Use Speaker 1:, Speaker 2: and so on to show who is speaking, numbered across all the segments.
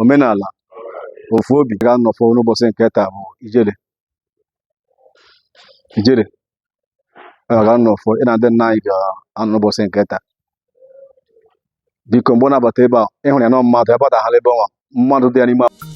Speaker 1: omenala ofu obi ga-anọfọ n'ụbọsị nke taa bụ ijele ijele ga-anọfọ ị na ndị nna anyị ga-anọ n'ụbọsị nke taa biko mgbe ọ na-abata ebe a ị hụrụ ya na mmadụ ya gbadaghara ebe ọnwa mmadụ dị ya n'ime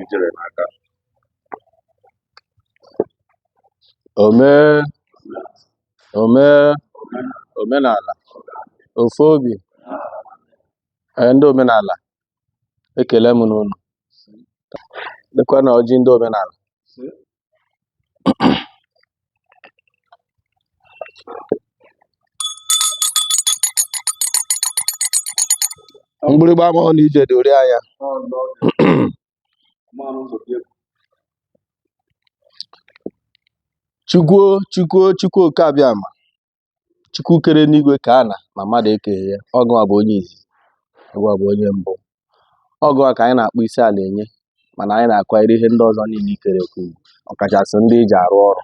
Speaker 1: ijele n'aka ome ome omenala ofu obi ee, ndị omenala ekele m unu lekwanụ ọjị ndị omenala mgbịrịgba amarọ na ije dị ori anya chukwuo chukwuo chukwu Okeabiama chukwu kere enigwe kee ana ma mmadụ ekeghị ya ọ gụwa bụ onye izizi ọ gụwa bụ onye mbụ ọ gụwa ka anyị na-akpọ isi ala enye mana anyị na-akwanyere ihe ndị ọzọ niile i kere eke ugwu ọkachasị ndị i ji arụ ọrụ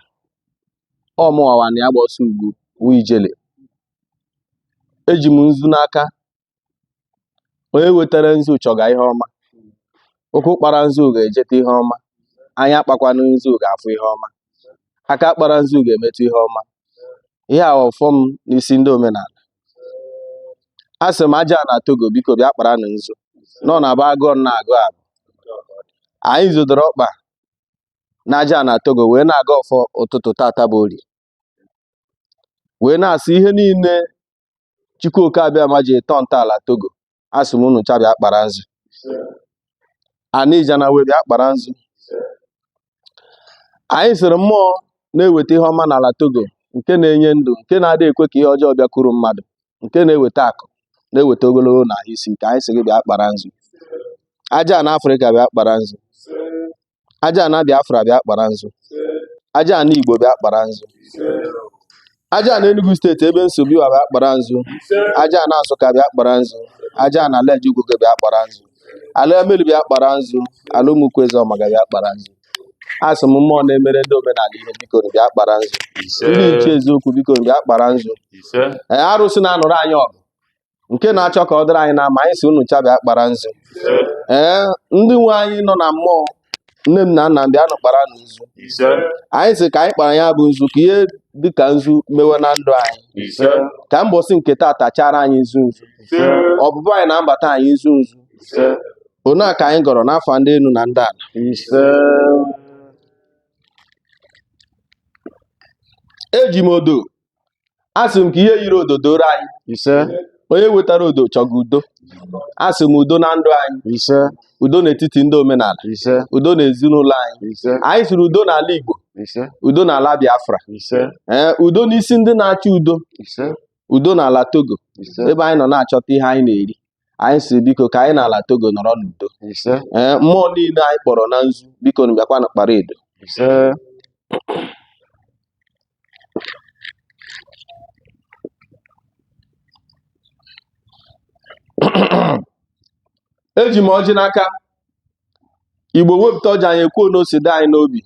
Speaker 1: ọ mụwa wa na ya gba ọsọ ugwu wụ ijele eji m nzu n'aka onye wetara nzu chọga ihe ọma ụkwụ kpara nzu ga-ejeta ihe ọma anya kpakwanụ nzu ga-afụ ihe ọma aka kpara nzu ga-emetụ ihe ọma ihe a ọfọ m n'isi ndị omenala asị m aja ana togo biko bịa kparanụ nzu nọ na ba agụọ na agụ abụ anyị zọdoro ọkpa na aja ana togo wee na-agọ ọfọ ụtụtụ tata bụ orie wee na-asị ihe niile Chukwu Okeabiama ji tọọ ntọala Togo asị m unu ncha bịa kpara nzu Anijana wee bịa kpara nzu anyị sịrị mmụọ na-eweta ihe ọma n'ala Togo nke na-enye ndụ nke na-adị ekwe ka ihe ọjọọ bịakwuru mmadụ nke na-eweta akụ na-eweta ogologo na ahụ isi ike anyị sị gị bịa kpara nzu aja ana Afrịka bịa kpara nzu aja ana Biafra bịa kpara nzu aja ana Igbo bịa kpara nzu aja ana Enugu steeti ebe m si bịa bịa kpara nzu aja ana Nsụka bịa kpara nzu aja ana ala Ejugogo bịa kpara nzu ala Emelu bịa kpara nzu ala Ụmụkwu Ezeọmaga bịa kpara nzu asị m mmụọ na-emere ndị omenala ihe biko nụ bịa kpara nzu ndị nche eziokwu biko nụ bịa kpara nzu Ee, arụsị na-anụrụ anyị ọgụ nke na-achọ ka ọ dịrị anyị na mma anyị sị unu ncha bịa kpara nzu ee ndị nwe anyị nọ na mmụọ nne m na nna m bịa nụ kpara nụ nzu ise anyị sị ka anyị kpara ya bụ nzu ka ihe dị ka nzu mewe na ndụ anyị ise ka mbọsị nke tata chara anyị nzu nzu ise ọpụpụ anyị na mbata anyị nzu nzu ise ọ nya ka anyị gọrọ n'ọfọ ndị enu na ndị ana ise eji m odo asị m ka ihe yiri odo doro anyị ise onye wetara odo chọga udo asị m udo na ndụ anyị ise udo n'etiti ndị omenala ise udo n'ezinụlọ anyị ise anyị siri udo n'ala Igbo ise udo n'ala Biafra ise ee udo n'isi ndị na-achọ udo ise udo n'ala Togo ise ebe anyị nọ na-achọta ihe anyị na-eri anyị si biko ka anyị n'ala Togo nọrọ n'udo ise ee mmụọ niile anyị kpọrọ na nzu biko nụ bịakwanụ kpara edo ise eji m ọjị n'aka igbo wepụta ọjị anyị ekwuo na o si dị anyị n'obi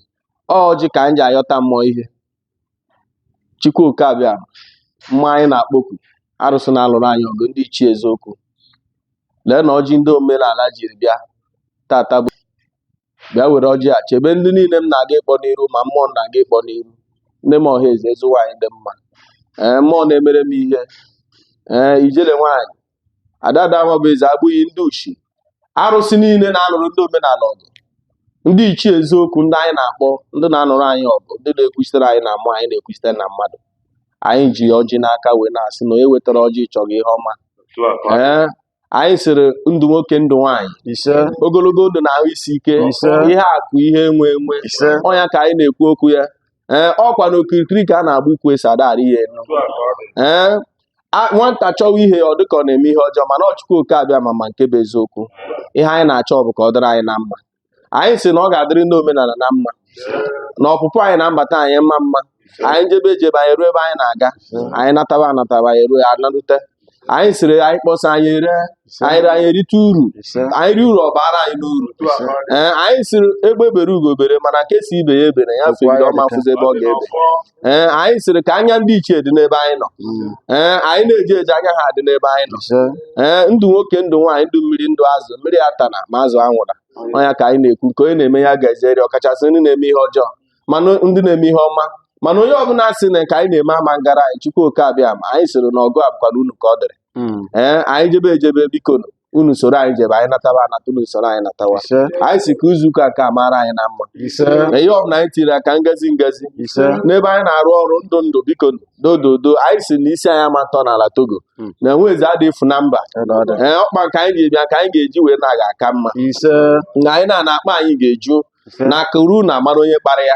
Speaker 1: ọ ọjị ka anyị ji ayọta mmụọ ihe chukwu oke abịama anyị na-akpọku arụsị na-alụrụ anyị ọgụ ndị ichie eziokwu leenụ ọjị ndị omenala jiri bịa tata bụ bịa were ọjị a chebe ndị niile m na-aga ịkpọ n'iru ma mmụọ m na-aga ịkpọ n'iru nne m ọha eze ezi nwaanyị dị mma ee mmụọ na-emere m ihe ee ijele nwaanyị adada Nwabụeze abụghị ndị ushi arụsị niile na-alụrụ ndị omenala ọgụ ndị ichie eziokwu ndị anyị na-akpọ ndị na-anụrụ anyị ọgụ ndị na-ekwuchitere anyị na mmụọ anyị na-ekwuchitere na mmadụ anyị ji ọjị n'aka wee na-asị na onye wetara ọjị chọga ihe ọma otu a ka ọ dị. ee anyị sịrị ndụ nwoke ndụ nwaanyị ise ogologo ndụ na ahụ isi ike ise ihe akụ ihe enwe enwe ise ọ nya ka anyị na-ekwu okwu ya ee ọkwa na okirikiri ka a na-agba ukwu ose ada arị ya enu ee nwata chọwa ihe ọ dịka ọ na-eme ihe ọjọọ mana ọ chukwu oke abịama ma nke bụ eziokwu ihe anyị na-achọ bụ ka ọ dịrị anyị na mma anyị si na ọ ga-adịrị ndị omenala na mma na ọpụpụ anyị na mbata anyị mma mma anyị jebe ejebe anyị ruo ebe anyị na-aga anyị nataba anataba anyị ruo anarute anyị siri anyị kpọsa anyị ere anyị ree anyị erite uru anyị rie uru ọ baara anyị n'uru ee anyị siri egbe bere ugo bere mana nke si ibe ya ebena ya fegide ọ ma fụzi ebe ọ ga-ebe ee anyị sịrị ka anya ndị ichie dị n'ebe anyị nọ mm. ee anyị na-eje eje anya ha dị n'ebe anyị nọ ee ndụ nwoke ndụ nwaanyị ndụ mmiri ndụ azụ mmiri atana ma azụ anwụra ọ nya ka anyị na-ekwu nke onye na-eme ya ga-ezeri ọkachasị ndị na-eme ihe ọjọọ mana ndị na-eme ihe ọma mana onye ọbụla sị na nke anyị na-eme ama ngara anyị chukwu oke abịama anyị sịrị na ọgụ a bụkwanụ unu ka ọ dịrị mm. ee anyị jebe ejebe biko unu soro anyị jebe anyị nataba anata unu soro anyị natawa ise anyị si ka izu ụka ka mara anyị na mma ise na ihe ọbụla anyị tiri aka ngazi ngazi ise n'ebe anyị na-arụ ọrụ ndụ ndụ biko dododo anyị si na isi anyị ama atọ n'ala togo Hmm. na nwa eze adị efu na mba ọdụ ọdụ ee ọkpa nke anyị ga-abịa nke anyị ga-eji wee naa ga-aka mma ise na anyị na-ana akpa anyị ga-eju na akụ ruo ụnọ amara onye kpara ya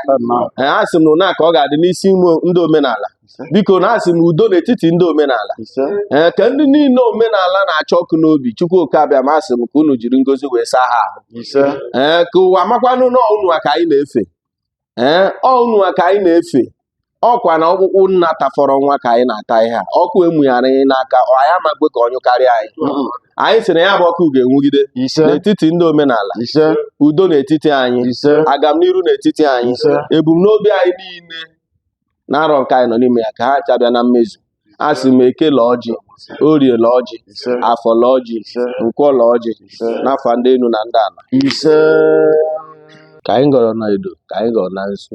Speaker 1: eh, a sị m na ụna ka ọ ga-adị n'isi ime ndị omenala biko na asị m udo n'etiti ndị omenala ee eh, ka ndị niile omenala na-acha ọkụ n'obi chukwu oke abịama asị m ka unu jiri ngozi wee saa ha ahụ ee eh, ka ụwa makwanụ na ọ unuwa ka anyị na-efe ee ọ unuwa ka anyị na-efe ọ kwa na ọkpụkpụ nna tafọrọ nwa ka anyị na-ata ihe a ọkụ e mụnyere anyị n'aka anyị ama kwe ka ọ nyụ karịa anyị anyị sị na ya bụ ọkụ ga-enwugide n'etiti ndị omenala udo n'etiti anyị agamniru n'etiti anyị ebumnobi anyị niile na arọ nke anyị nọ n'ime ya ka ha cha bịa na mmezu asị m eke la ọjị orie la ọjị afọ la ọjị nkwọ la ọjị n'afọ ndị enu na ndị ala ka anyị gọrọ na edo ka anyị gọrọ na nsu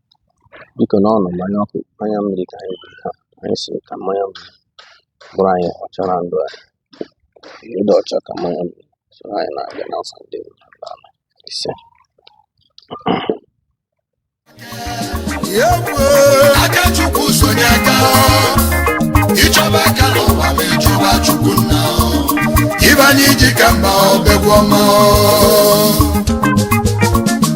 Speaker 1: biko na ọnụ mmanya ọkụ mmanya mmiri ka anyị biri ha anyị sị ka mmanya mmiri bụrụ anyị ọcha na ndụ anyị ndị ọcha ka mmanya mmiri so anyị na-abịa n'afọ ndị ise aka chukwu sonye aka ịchọba aka n'ụwa ma ịchọba chukwu nna ịbanye iji ka mba ọbegwu ọma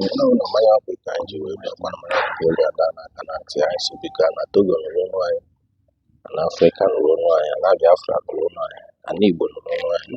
Speaker 1: Nke ụlọ mmanya ọ bụ ka anyị ji wee bịa gbara mara akwụkwọ olu ada na aka na ntị anyị sị biko ana Togo nụrụ onu anyị ana Afrịka nụrụ onu anyị ana Biafra nụrụ onu anyị ana Igbo nụrụ onu anyị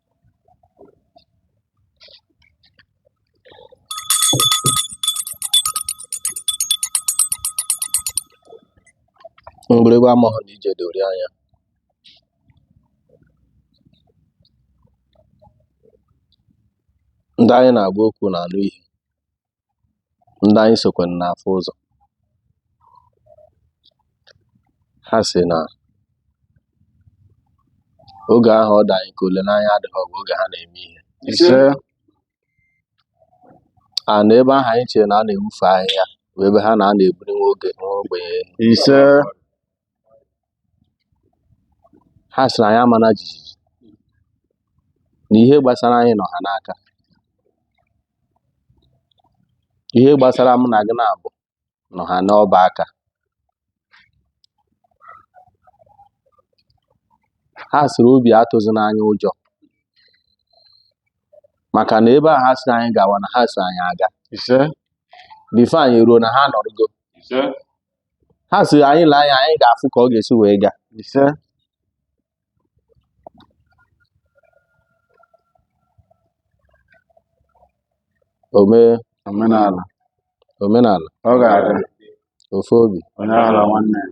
Speaker 1: mgbịrịgba amaghị na ije dori anya ndị anyị na-agwa okwu na-anụ ihe ndị anyị sokwa na-afụ ụzọ ha sị na oge ahụ ọ dị anyị ka olileanya adịghị ọ bụ oge ha na-eme ihe ise a na ebe ahụ anyị chere na a na-ewufe ahịhịa bụ ebe ha na a na-ebuli nwa oge nwa ogbenye elu. ise ha sịrị anyị amana jijiji na ihe gbasara anyị nọ ha n'aka ihe gbasara mụ na gị naabọ nọ ha n'ọba aka ha sịrị obi atụzina anyị ụjọ maka na ebe a ha sị anyị gawa na ha so anyị aga ise before anyị ruo na ha nọrịgo ise ha sị anyị lee anya anyị ga-afụ ka ọ ga-esi wee gaa ise ome omenala omenala ọ ga-adị ofu obi onye aghala nwanne ya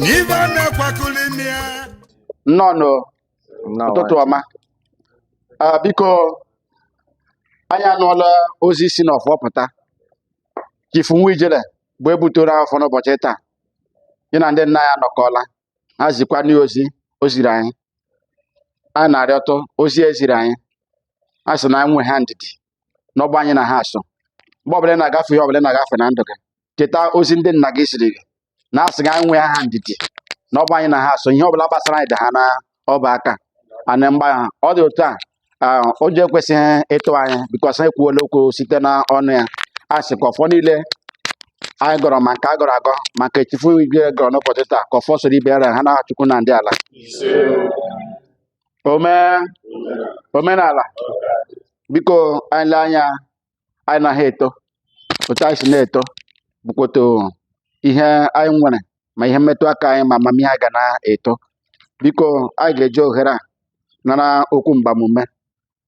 Speaker 1: na ibe a na-akwakọrọ ime ya nnọọ ụtụtụ ọma Ah, biko anyị anụọla ozi si n'ọfọ pụta chifu nwa ijele bụ ebutoro ọfọ n'ụbọchị taa ya na ndị nna ya anọkọọla ha zikwa anyị ozi o ziri anyị anyị na-arịọtụ ozi e ziri anyị a sị na anyị nwe ha ndidi na ọbụ anyị na ha so mgbe ọbụla ị na-agafe ihe ọbụla ị na-agafe na ndụ gị cheta ozi ndị nna gị ziri gị na asị anyị nwe ha ndidi na ọbụ anyị na ha so ihe ọbụla gbasara anyị dị ha na ọba aka ana mgba ha ọ dị otu a ụjọ ekwesịghị ịtụ anyị because anyị kwuola okwu site na ọnụ ya a sị ka ọfọ niile anyị gọrọ ma nke a gọrọ agọ ma nke chifu igwe gọrọ n'ụbọchị taa ka ọfọ soro ibe ya ha na chukwu na ndị ala omenala biko anyị lee anya anyị na ha eto otu anyị si na-eto bụkwa otu ihe anyị nwere ma ihe mmetụ aka anyị ma amamihe anyị ga na-eto biko anyị ga-eji ohere a nara okwu mgbamume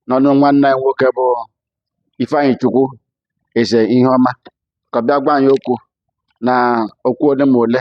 Speaker 1: n'ọnụ nwanne anyị nwoke bụ Ifeanyịchukwu eze ihe ọma ka ọ bịa gwa anyị okwu na okwu ole ma ole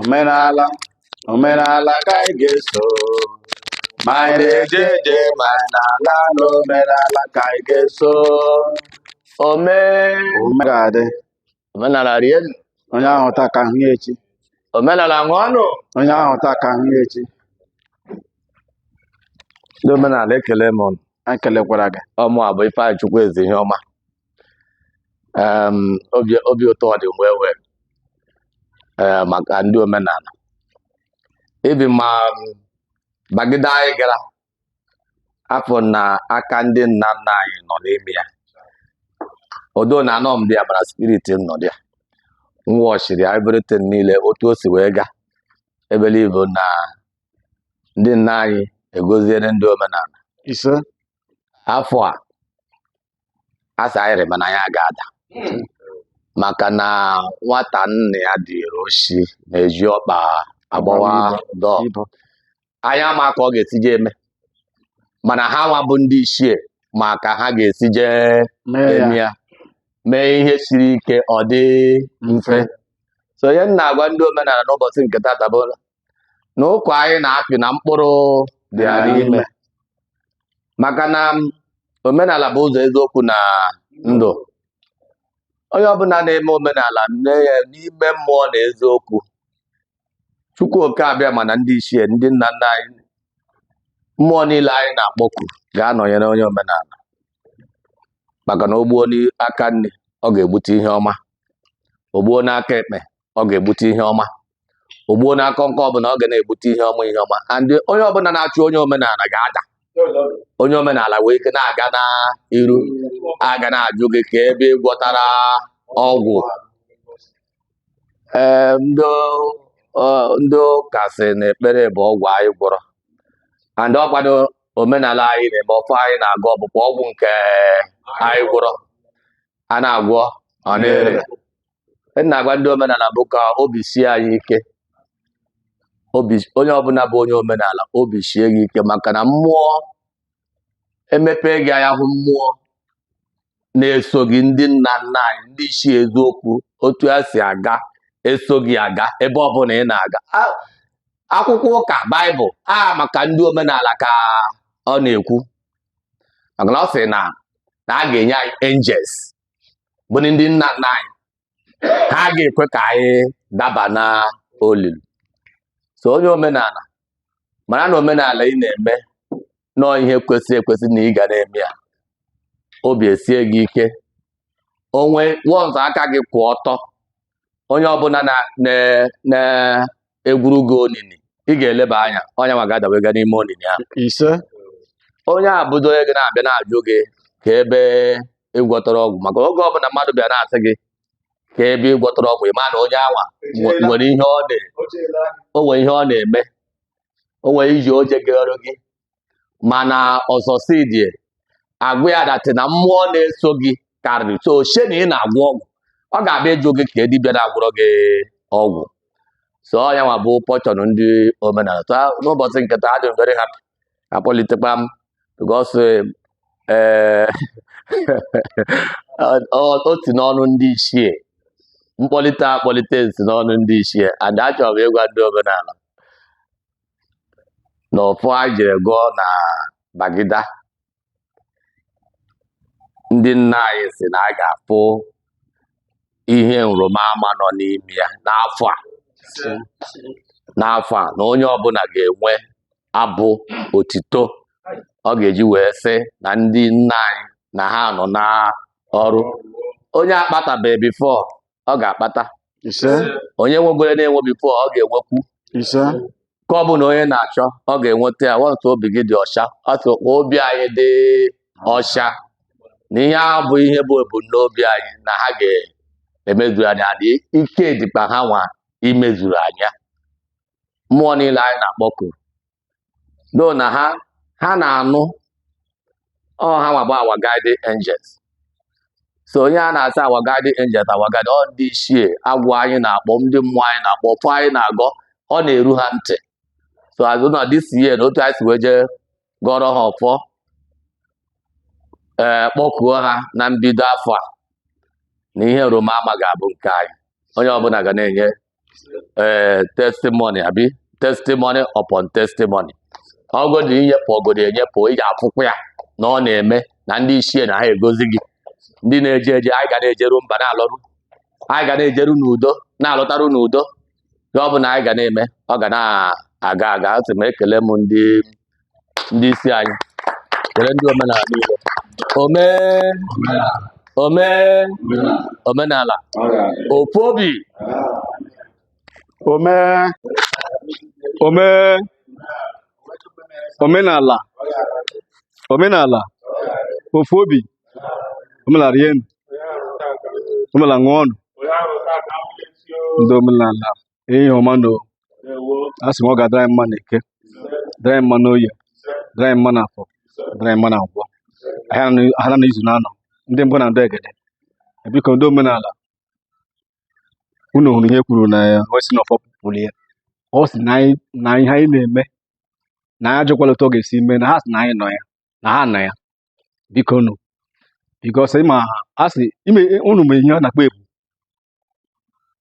Speaker 1: omenala omenala ka anyị ga-eso ma anyị na-eje eje ma anyị na-ala ala omenala ka anyị ga-eso ome ome ga-adị omenala rienụ, onye ahụ taa ka ahụ ya echi omenala ṅụọnụ onye ahụ taa ka ahụ ya echi ndị omenala ekele m ụnụ anyị kelekwara gị ọ mụ a bụ Ifeanyịchukwu eze ihe ọma Em, obi obi ụtọ dị m ewe ee maka ndị omenala ibe m ma mbagide anyị gara afụ na aka ndị nna nna anyị nọ n'ime ya although na anọ m dị ya mana spirit m nọ dị ya m watchiri everything niile otu o si wee gaa I believe na ndị nna anyị agọziere ndị omenala isi afọ a asị anyị rịba na anyị aga-ada maka na nwata nna ya duru oshi na-eji ọkpa agbawa door anyị ama ka ọ ga-esije eme mana ha nwa bụ ndị ichie ma ka ha ga-esije eme ya mee ihe siri ike ọ dị mfe so ihe m na-agwa ndị omenala n'ụbọchị nke tata bụ na ụkwa anyị na-apị na mkpụrụ dị ya n'ime maka na omenala bụ ụzọ eziokwu na ndụ onye ọbụla na-eme omenala mee ya n'ime mmụọ na eziokwu Chukwu oke Abịama na ndị ichie ndị nna nna anyị mmụọ niile anyị na-akpọku ga-anọnyere onye omenala maka na o gbuo n'aka nni ọ ga-egbute ihe ọma o gbuo n'aka ekpe ọ ga-egbute ihe ọma o gbuo na akọ nke ọbụla ọ ga na-egbute ihe ọma ihe ọma and onye ọbụla na-achụ onye omenala ga-ada onye omenala wee ike na-aga n'iru a ga na-ajụ gị ka ebe ị gwọtara ọgwụ ee ndị ọ- ndị ụka sị na ekpere bụ ọgwụ anyị gwọrọ and ọ kwanụ omenala anyị na-eme ọfọ anyị na-agọ ọ bụkwa ọgwụ nke anyị gwọrọ a na-agwọ ọ na-ere m na-agwa ndị omenala bụ ka obi sie anyị ike obi onye ọbụla bụ onye omenala obi sie gị ike maka na mmụọ emepee gị anya hụ mmụọ na-eso gị ndị nna nna anyị ndị ichie eziokwu otu ha si aga eso gị aga ebe ọbụla ị na-aga A- akwụkwọ ụka baịbụl a maka ndị omenala ka ọ na-ekwu maka na ọ sị na na a ga-enye anyị angels bụ ndị nna nna anyị ha ga-ekwe ka anyị daba na olulu so onye omenala mara na omenala ị na-eme na ọ ihe kwesịrị ekwesị na ị ga na-eme ya obi esie gị ike onwe once aka gị kwụ ọtọ onye ọbụla na egwuru gị onini ị ga-eleba anya onye nwa ga-adawe ga n'ime onini ahụ ise onye a bụdo onye gị na-abịa na-ajụ gị ka ebe ị gwọtara ọgwụ maka oge ọbụla mmadụ bịa na-asị gị ka ebe ị gwọtara ọgwụ ị ma na onye a nwa nwe- nwere ihe ọ na o nwere ihe ọ na-eme o nwere ije o je gwọrọ gị mana ọzọ si dibịa agwa ya that na mmụọ na-eso gị karịrị so o chee na ị na-agwọ ọgwụ ọ ga-abịa ịjụ gị ka dibịa na-agwọrọ gị ọgwụ so ọ ya nwa bụ portion ndị omenala so a- n'ụbọchị nke taa adị m very happy a kpọlitekwa m because ee ọ- o si n'ọnụ ndị ichie mkpọlite a kpọlite m si n'ọnụ ndị ichie and achọrọ m ịgwa ndị omenala na ọfọ a jere gọọ na bagida ndị nna anyị sị na anyị ga-afụ ihe nrịba ama nọ n'ime ya n'afọ a n'afọ a na onye ọbụla ga-enwe abụ otito ọ ga-eji wee sị na ndị nna anyị na ha nọ n'ọrụ onye akpatabeghị before ọ ga-akpata ise onye nwegoro na-enwe before ọ ga-enwekwu ise ka ọ bụ na onye na-achọ ọ ga-enweta ya nwata obi gị dị ọcha otu ka obi anyị dị ọcha na ihe ahụ bụ ihe bụ ebumnobi anyị na ha ga-emezuru anyị ya and ike dịkpa ha nwa imezuru anyị ya mmụọ niile anyị na-akpọku no na ha ha na-anụ ọ ha nwa bụ our guiding angels so ihe a na-asị our guiding angels our guiding ọ ndị ichie agwụ anyị na-akpọ ndị mmụọ anyị na-akpọ ọfọ anyị na-agọ ọ na-eru ha ntị so a sị na this year na otu anyị si wee jee gọọrọ ha ọfọ ee kpọkuo ha na mbido afọ a na ihe roma ama ga-abụ nke anyị onye ọbụla ga na-enye ee testimony abi testimony upon testimony ọgodi i nyepụ ọgodi enyepụ ị ga-afụkwa ya na ọ na-eme na ndị ichie na ha agọzi gị ndị na-eje eje anyị ga na-ejeru mba na-alọru anyị ga na-ejeru n'udo na-alọta n'udo ihe ọ bụla anyị ga na-eme ọ ga na-aga aga asị m ekele m ndị ndị isi anyị kelee ndị omenala niile ome ome omenala ofu obi ome ome omenala omenala ofu obi omenala rienụ omenala ṅụọnụ ndị omenala Ihe ọma na a sị m ọ ga-adịrị anyị mma na eke dịrị anyị mma na oye dịrị anyị mma na afọ dịrị anyị mma na nkwọ ahịa na izu n'anọ ndị mbụ na ndị egede biko ndị omenala unu hụrụ ihe kwuru na ya wee sị na ọfọ pụrụ ya ọ sị na anyị- na ihe anyị na-eme na anyị ajụkwala otu ọ ga-esi mee na ha sị na anyị nọ ya na ha nọ ya bikonụ because ịma a sị ime unu ma ihe a na-akpọ ebu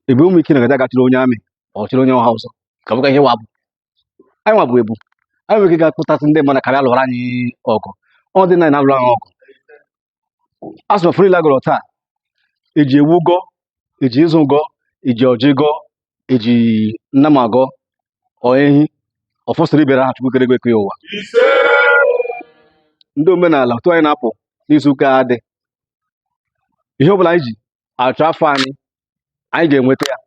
Speaker 1: ebe ụmụ ike na-aga aga chịrị onye amị ọ chịrị onye ọha ọzọ ka bụka ihe nwa bụ anyị nwa bụ ebu anyị nwere ike ga-akpọtasị ndị mmadụ ka ha bịa lụọrọ anyị ọgụ ọ dị na na-alụrụ anyị ọgụ a sị na ọfọ niile a gọrọ taa eji ewu gọ eji nzu gọ eji ọjị gọ eji nnama gọ ọ ehi ọfọ sịrị ibere ha chukwu kere igwe kee ụwa ndị omenala otu anyị na-apụ n'izu ụka a dị ihe ọ bụla anyị ji achọ afọ anyị anyị ga-enweta ya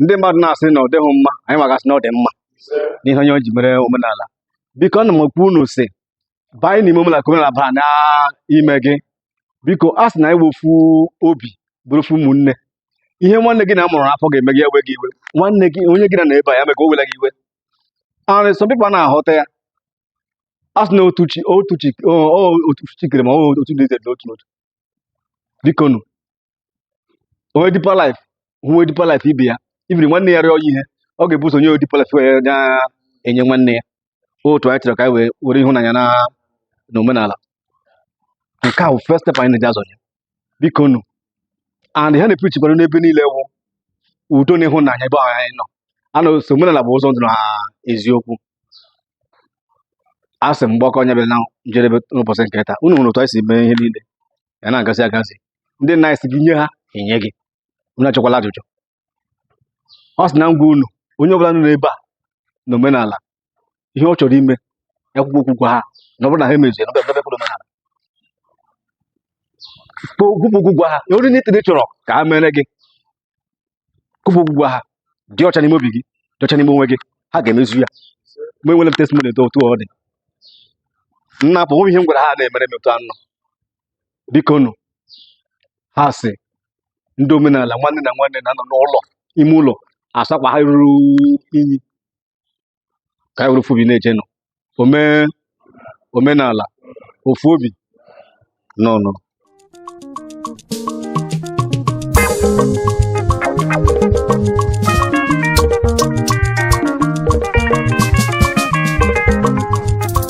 Speaker 1: ndị mmadụ na-asị na ọ dịghị mma anyị nwa ga-asị na ọ dị mma n'ihe onye ji mere omenala biko ana m ekwu unu si banye n'ime omenala ka omenala baa n'ime gị biko a sị na anyị nwee ofu obi bụrụ ofu ụmụnne ihe nwanne gị na amụrụ n'afọ ga-eme gị ewe gị iwe nwanne gị onye gị na ya nọ ebe a ya mee ka o wela gị iwe arị sọ people na-ahụta ya a sị na otu chi otu chi o- o- otu chi kere ma ọ bụ otu dị ize dị otu n'otu bikonu onye Deeper Life onye Deeper Life ibe ya ibiri nwanne ya rịọ ya ihe ọ ga-ebu ụzọ nye Deeper Life wee na-enye nwanne ya otu anyị chọrọ ka anyị wee were ịhụnanya na na omenala nke a bụ first step anyị na-eji azọnye bikonu and ha na-epreachikwa n'ebe niile wụ udo na ịhụnanya ebe ahụ anyị nọ anọ so omenala bụ ụzọ ndụ na eziokwu a sị m mgbakọ anyị abịa na njedebe n'ụbọchị nke taa unu hụrụ otu anyị si mee ihe niile ya na-agazi agazi ndị nna anyị sị gị nye ha enye gị unu achọkwala ajụjụ ọ sị na ngwa unu onye ọbụla nọ n'ebe a na omenala ihe ọ chọrọ ime ya kwuo okwu gwa ha na ọ bụrụ na ha emezie na ọ bịa bịa omenala kwuo okwu gwa ha na ihe niile ị chọrọ ka ha mere gị kwuba okwu gwa ha dị ọcha n'ime obi gị dị ọcha n'ime onwe gị ha ga-emezu ya mụ enwere m testimony etu ọ dị na ọ bụ ihe m gwara ha na-emere m otu anọ biko nụ ha sị ndị omenala nwanne na nwanne na-anọ n'ụlọ ime ụlọ asa akwa ha ruru inyi ka anyị were ofu obi na-eje nụ ome omenala ofu obi nnọọ nụ